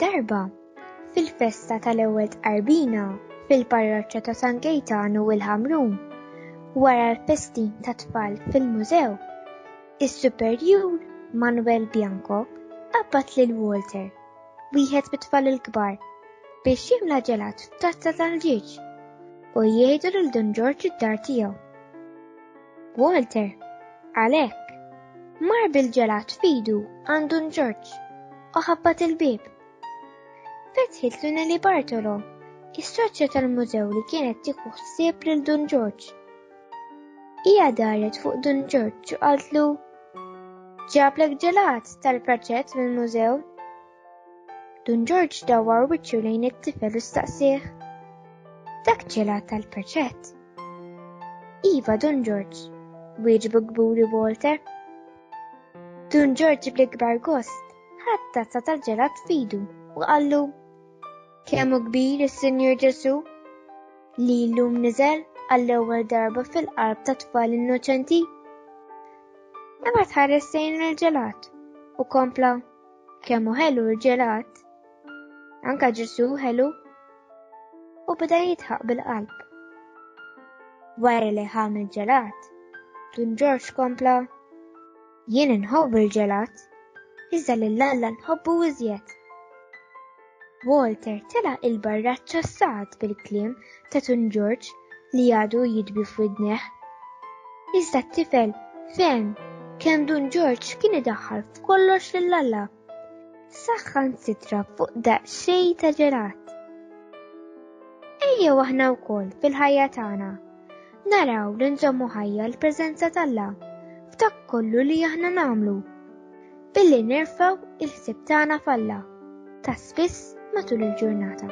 Darba, fil-festa tal-ewwel tqarbina fil-parroċċa ta' San Gejtan u l-Ħamrun, wara l-festin ta' tfal fil-mużew, is-superjur Manuel Bianco qabad lil Walter wieħed mit-tfal il-kbar biex jimla ġelat f'tazza tal-ġieġ u jgħidu lil Dun Ġorġ id-dar tiegħu. Walter, għalhekk, mar bil-ġelat fidu għand Dun Ġorġ u ħabbat il-bieb. Fetħit Lunelli Bartolo, is-soċja tal-mużew li kienet tieħu ħsieb lil Dun Ġorġ. Hija daret fuq Dun Ġorġ u qaltlu Ġablek ġelat tal-proġett mill-mużew. Dun Ġorġ dawwar wiċċu lejn it-tifel u staqsih. Dak ġelat tal-proġett. Iva Dun Ġorġ, wieġbu kburi Walter. Dun Ġorġ bl-ikbar gost ħadd tazza tal-ġelat fidu u qallu Kemm hu kbir is-Sinjur Ġesù li llum niżel għall-ewwel darba fil-qalb ta' tfal innoċenti? Imma tħares sejn il-ġelat u kompla kemm hu ħelu l-ġelat. Anka Ġesù ħelu u beda jitħaq bil-qalb. Wara li ħam il-ġelat, Dun Ġorġ kompla jien inħobb il-ġelat, iżda lil Alla nħobbu iżjed. Walter tela' il-barraċċa sa'd bil-kliem ta' Tun Ġorġ li għadu jidbi f'widnejh. Iżda t-tifel fehem kemm Dun Ġorġ kien idaħħal f'kollox lil Alla. Saħħansitra fuq daqsxejn ta' ġelat. Ejjew aħna wkoll fil-ħajja tagħna Naraw li nżommu ħajja l-preżenza t'Alla f'dak kollu li aħna nagħmlu. Billi nerfaw il-ħsieb tagħna f'Alla ta' spiss matul il-ġurnata.